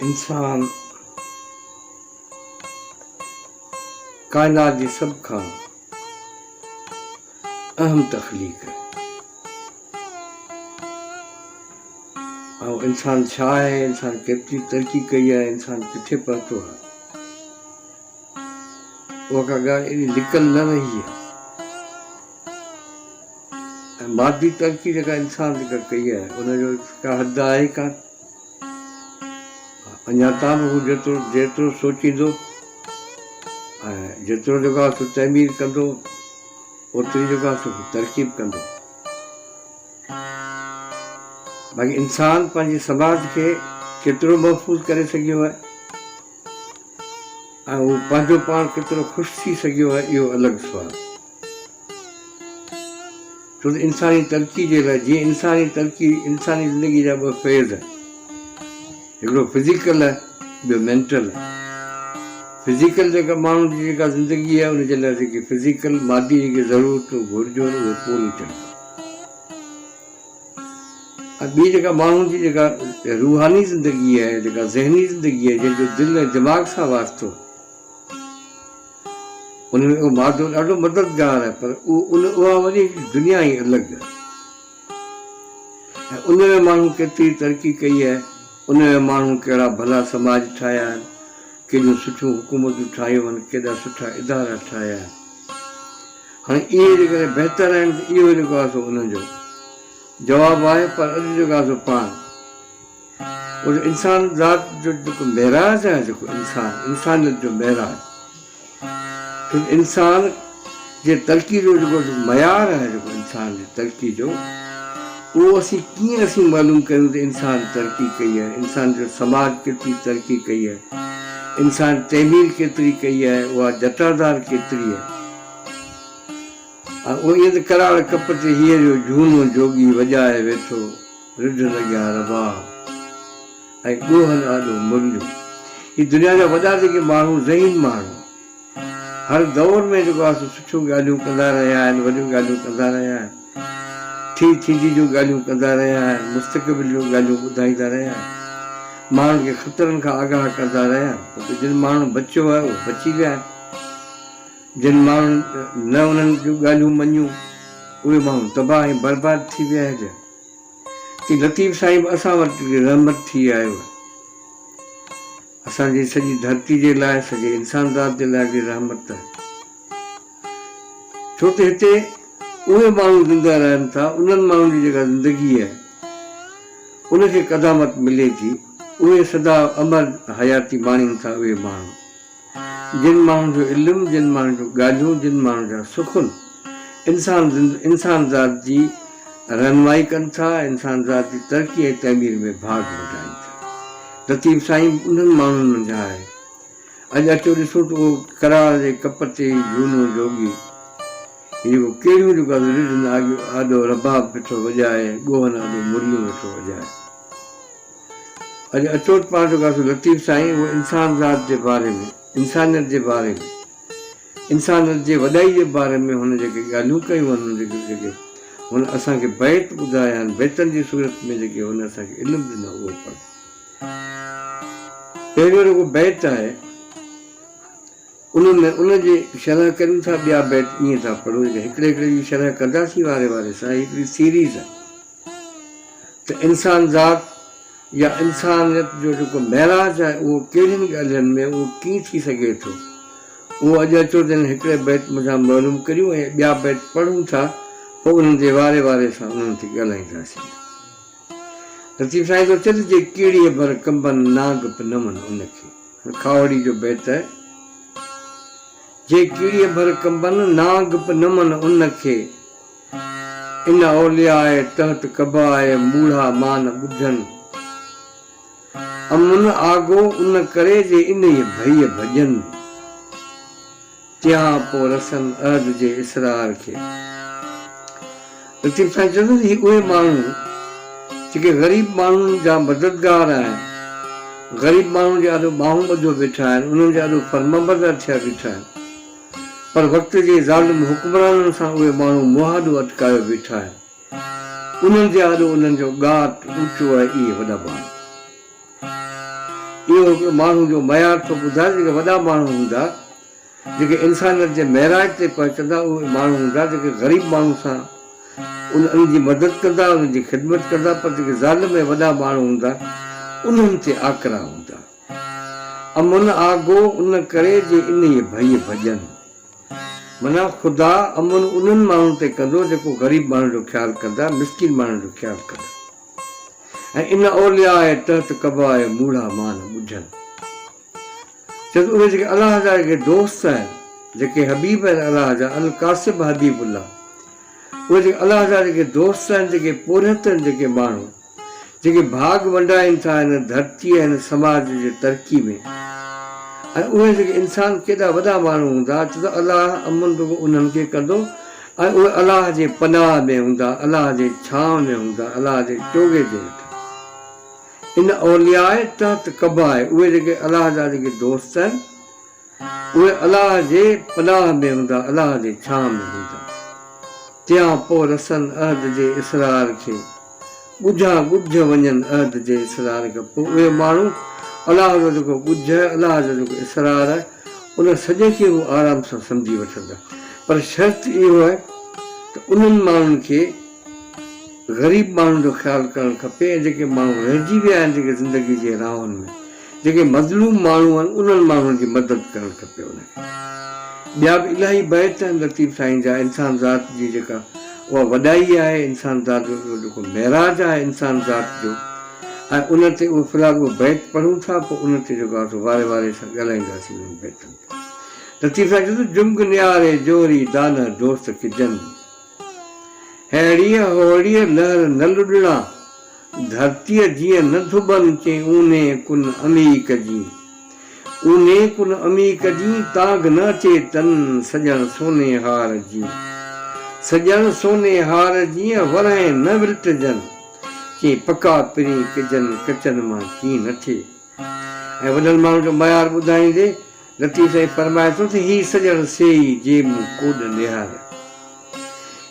انسان ڪائنات جي سڀ کان اهم تخليق آهي ۽ انسان ڇا آهي انسان ڪيتري ترقي ڪئي آهي انسان ڪٿي پهتو آهي اها ڪا ڳالهه ايڏي لڪل نه رهي آهي ۽ مادي ترقي جيڪا انسان ذڪر ڪئي آهي ان جو ڪا حد آهي ئي ڪانه. اڃا تان به هو جيترو جيترو سوچيندو ۽ جيترو جيڪو آهي سو تعمير ڪندو اوتري جيڪو آهي سو ترقي به ڪندو. باقي انسان پنهنجي سماج کي ڪيترو محفوظ ڪري سگهيو آهي ۽ هو پنهنجو پاڻ ڪيترو خوش ٿي سگهيو آهي اهو الڳ سوال. ڇو ته انساني ترقي جي لاء جيئن انساني ترقي انساني زندگي جا ٻه فيز هڪڙو فزيڪل ٻيو مينٽل فزيڪل جيڪا ماڻهو جي جيڪا زندگي آهي ان جي لاء جيڪي فزيڪل مادي جيڪي ضرورتون گهرجون اهي پوريون ٿيڻ ۽ ٻي جيڪا ماڻهو جي جيڪا روحاني زندگي آهي جيڪا ذهني زندگي آهي جنهن جو دل ۽ دماغ سان واسطو ان ۾ اهو مادو ڏاڍو مددگار آهي پر ان اها وڏي دنيا ئي الڳ آهي ۽ ان ۾ ماڻهن ڪيتري ترقي ڪئي آهي، ان ۾ ماڻهن ڪهڙا ڀلا سماج ٺاهيا آهن، ڪيڏيون سٺيون حڪومتون ٺاهيون آهن، ڪيڏا سٺا ادارا ٺاهيا آهن. هاڻي اهي جيڪڏهن بهتر آهن ته اهو جيڪو آهي سو انهن جو جواب آهي پر اڄ جيڪو آهي سو پاڻ ان انسان ذات جو جيڪو معراج آهي جيڪو انسان انسانيت جو معراج ڇو ته انسان جي ترقي جو جيڪو معيار آهي جيڪو انسان جي ترقي جو اهو اسين ڪيئن اسين معلوم ڪريون ته انسان ترقي ڪئي آهي انسان جو سماج ڪيتري ترقي ڪئي آهي انسان تعمير ڪيتري ڪئي آهي اها جٽادار ڪيتري آهي ۽ ائين ته ڪراڙ ڪپ تي هيء جو جهونو جوڳي وڄائي ويٺو رڍ لڳيا رباب ۽ ڏوهن آڏو مرليون هي دنيا جا وڏا جيڪي ماڻهو ذهين ماڻهو هر دور ۾ جيڪو آهي سو سٺيون ڳالهيون ڪندا رهيا آهن وڏيون ڳالهيون ڪندا رهيا آهن ٿي ٿيندي جون ڳالهيون ڪندا رهيا آهن مستقبل جون ڳالهيون ٻڌائيندا رهيا آهن ماڻهن کي خطرن کان آگاهه ڪندا رهيا آهن جن ماڻهن بچيو آهي اهو بچي ويا آهن جن ماڻهن نه انهن جون ڳالهيون مڃيون اهي ماڻهو تباهه ۽ برباد ٿي ويا آهن اي لطيف صاحب اسان وٽ رحمت ٿي آيو اسان جي سڄي ڌرتي جي لاء سڄي انسان ذات جي لاء به رحمت ته ڇو ته هتي اهي ماڻهو زنده رهن ٿا انهن ماڻهن جي جيڪا زندگي آهي ان کي قدامت ملي ٿي اهي سدا امر حياتي ماڻين ٿا اهي ماڻهو. جن ماڻهن جو علم، جن ماڻهن جون ڳالهيون، جن ماڻهن جا سخن انسان انسانذات جي رهنمائي ڪن ٿا، انسانذات جي ترقي ۽ تعمير ۾ ڀاڳ وٺائين ٿا. لطيف سائين به انهن ماڻهن منجهان آهي. اڄ اچو ڏسون ته اهو ڪراڙ جي ڪپ تي جهونو جوڳي هي جيڪو ڪيڙهيون جون ڳالهيون رڍن آڏو رباب پيو ٿو وڄائي، ڳوهن آڏو مرليون ويو ٿو وڄائي. اڄ اچوچ پاڻ جو غوث لطيف سائين اهو انسان ذات جي باري ۾ انسانيت جي باري ۾ انسانيت جي وڏائي جي باري ۾ هن جيڪي ڳالهيون ڪيون آهن جيڪي جيڪي هن اسان کي بيت ٻڌايا آهن بيتن جي صورت ۾ جيڪي هن اسان کي علم ڏنو اهو پڻ پهريون رڳو بيت آهي. انهن ۾ ان جي شرح ڪريون ٿا ٻيا بيت ائين ٿا پڙهون جيڪي هڪڙي هڪڙي جي شرح ڪنداسين واري واري سان هي هڪڙي سيريز آهي ته انسان ذات يا انسانيت جو جيڪو معراج آهي اهو ڪهڙين ڳالهين ۾ اهو ڪيئن ٿي سگهي ٿو اهو اڄ اچو ته انهن هڪڙي بيت منجهان معلوم ڪريون ۽ ٻيا بيت پڙهون ٿا پوء انهن جي واري واري سان انهن تي ڳالهائينداسين لطيف سائين ٿو چئي ته جي ڪيڙيء ڀر ڪنبن ناگ پنمن ان کي. کاهوڙي جو بيت، جي ڪيڙيء ڀر ڪنبن، نانگ به نمن ان کي، ان اولياء تحت ڪبا اهي موڙها مان ٻڌن، امن آگو ان ڪري جي انهيء ڀئيء ڀڄن. ڪيا پو رسن عهد جي اسرار کي. لطيف سائين چوندو ته هي اهي ماڻهو جيڪي غريب ماڻهن جا مددگار آهن، غريب ماڻهن جي آڏو ٻانهون ٻڌو بيٺا آهن، انهن جي آڏو فرمانبردار ٿيا بيٺا آهن پر وقت جي ظالم حڪمرانن سان اهي ماڻهو منهن آڏو اٽڪايو بيٺا آهن، انهن جي آڏو انهن جو ڳاٽ اوچو آهي اهي وڏا ماڻهو. اهو هڪ ماڻهو جو معيار ٿو ٻڌائي جيڪي وڏا ماڻهو هوندا جيڪي انسانيت جي معراج تي پهچندا اهي ماڻهو هوندا جيڪي غريب ماڻهو سان ان ان جي مدد ڪندا ان جي خدمت ڪندا پر جيڪي ظالم ۽ وڏا ماڻهو هوندا انهن تي آڪرا هوندا امن آگو ان ڪري جي انهي ڀئي ڀڄن منا خدا امن انهن ماڻهن تي ڪندو جيڪو غريب ماڻهن جو خيال ڪندا مسڪين ماڻهن جو خيال ڪندا. ۽ ان اولياء تحت قباء موڙها مان ٻڌن. چيس اهي جيڪي الله جا اڳي دوست آهن، جيڪي حبيب آهن الله جا، القاسب حبيب الله، اهي جيڪي الله جا جيڪي دوست آهن، جيڪي پورهيت آهن، جيڪي ماڻهو، جيڪي ڀاڳ ونڊائين ٿا هن ڌرتيء ۽ هن سماج جي ترقي ۾ ۽ اهي جيڪي انسان ڪيڏا وڏا ماڻهو هوندا، چيس الله امن رڳو انهن کي ڪندو، ۽ اهي الله جي پناهه ۾ هوندا، الله جي ڇانو ۾ هوندا، الله جي چوغي جي هيٺان. ان اولياء تحت قبا آهي، اهي جيڪي الله جا جيڪي دوست آهن، اهي الله جي پناهه ۾ هوندا، الله جي ڇانء ۾ هوندا. تيانپوء رسن عهد جي اسرار کي. ڳجها ڳجهه وڃن عهد جي اسرار گپو اهي ماڻهو الله جو جيڪو ڳجهه الله جو جيڪو اسرار ان سڄڻ کي هو آرام سان سمجهي وٺندا پر شرط اهو آهي ته انهن ماڻهن کي غريب ماڻهن جو خيال ڪرڻ کپي ۽ جيڪي ماڻهو رهجي ويا آهن جيڪي زندگي جي راهن ۾. جيڪي مظلوم ماڻهو آهن انهن ماڻهن جي مدد ڪرڻ کپي انهن کي ٻيا به الاهي بيت آهن لطيف سائين جا انسان ذات جي جيڪا اها وڏائي آهي انسان ذات جو اهو جيڪو معراج آهي انسان ذات جو ۽ ان تي اهو في الحال اهو بيت پڙهون ٿا پوء ان تي جيڪو آهي واري واري سان ڳالهائينداسين انهن بيتن تي لطيف سائين چيو ته جنگ نياري جوهري دانهه دوست ڪجن. ههڙيء ههڙيء لهر نه لڏڙا، ڌرتيء جيئن نه ڌٻن تي اونهي ڪن امي ڪجين. اونهي ڪن امي ڪجين، تاگ نه اچي تن سڄڻ سوني هار جيئن. سڄڻ سوني هار جيئن ورهين نه ورٽجن، چين پڪا پرين ڪجن ڪچن مان ڪين نه ٿئي. ۽ وڏن ماڻهن جو ميار ٻڌائيندي، لطيف سائين فرمائي ٿو ته هي سڄڻ سي ئي جي مون ڪوڏ نهاريا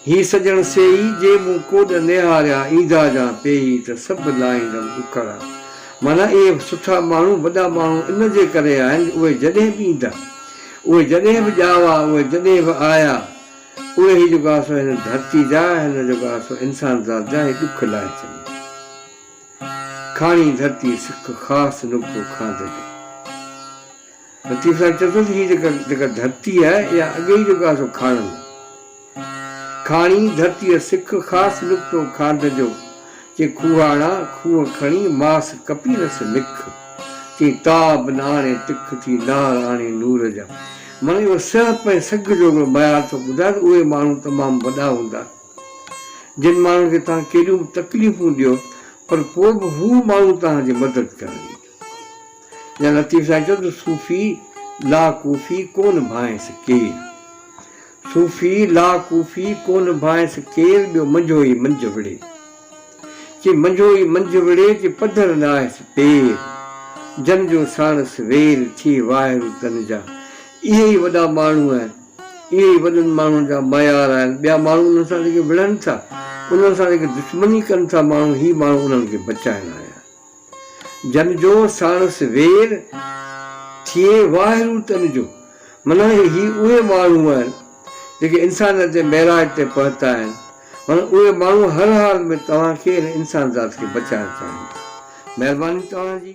هي سڄڻ سي ئي جي مون ڪوڏ نهاريا ايندا جان پيئي ته سڀ لاهيندم ڏکڙا معنيٰ اهي سٺا ماڻهو وڏا ماڻهو ان جي ڪري آهن اهي جڏهن به ايندا اهي جڏهن به ڄاوا اهي جڏهن به آيا اهي هي جيڪو آسو هن ڌرتي جا هن جيڪو آسو انسانذات جا هي ڏک لاهي ڇڏيا. ڪھاڻي ڌرتي سک خاص نقطو کاڌ ۾. لطيف صاحب چئي ٿو ته ھيء جيڪا جيڪا ڌرتي آھي اھا اڳي ئي جيڪو آھي سو ڪھاڻن لاء آھي. ڪھاڻي ڌرتي سک خاص نقطو کاڌ جو. چئي کوھاڻا کوھه کڻي ماس ڪپينس نک. چئي تاب نه آڻي تک ٿي نار آڻي نور جا. معني اھو سھپ ۽ سگھ جو ھڪڙو معيار ٿو ٻڌائي ته اھي ماڻھو تمام وڏا ھوندا. جن ماڻهن کي توهان ڪيڏيون به تڪليفون ڏيو پر پوء به هو ماڻهو توهان جي مدد ڪرڻ ايندو. يا لطيف سائين چيو ته صوفي لا ڪوفي ڪو نڀائينس ڪير. صوفي لا ڪوفي ڪو نڀائينس ڪير ٻيو منجهو ئي منجهه وڙهي. چي منجهو ئي منجهه وڙهي چي پڌر لاهيس پير. جن جو ساڻس وير ٿئي واهرو تن جا اهي ئي وڏا ماڻهو آهن. اهي ئي وڏن ماڻهن جا معيار آهن، ٻيا ماڻهو انهن سان رڳي وڙهن ٿا، انهن سان رڳي دشمني ڪن ٿا، ماڻهو هي ماڻهو انهن کي بچائڻ آيا آهن. جن جو ساڻس وير ٿئي واهرو تن جو، معنيٰ هي اهي ماڻهو آهن، جيڪي انسانيت جي معراج تي پهتا آهن، معنيٰ اهي ماڻهو هر حال ۾ توهان کي ۽ انسان ذات کي بچائڻ چاهين ٿا. مهرباني توهان جي.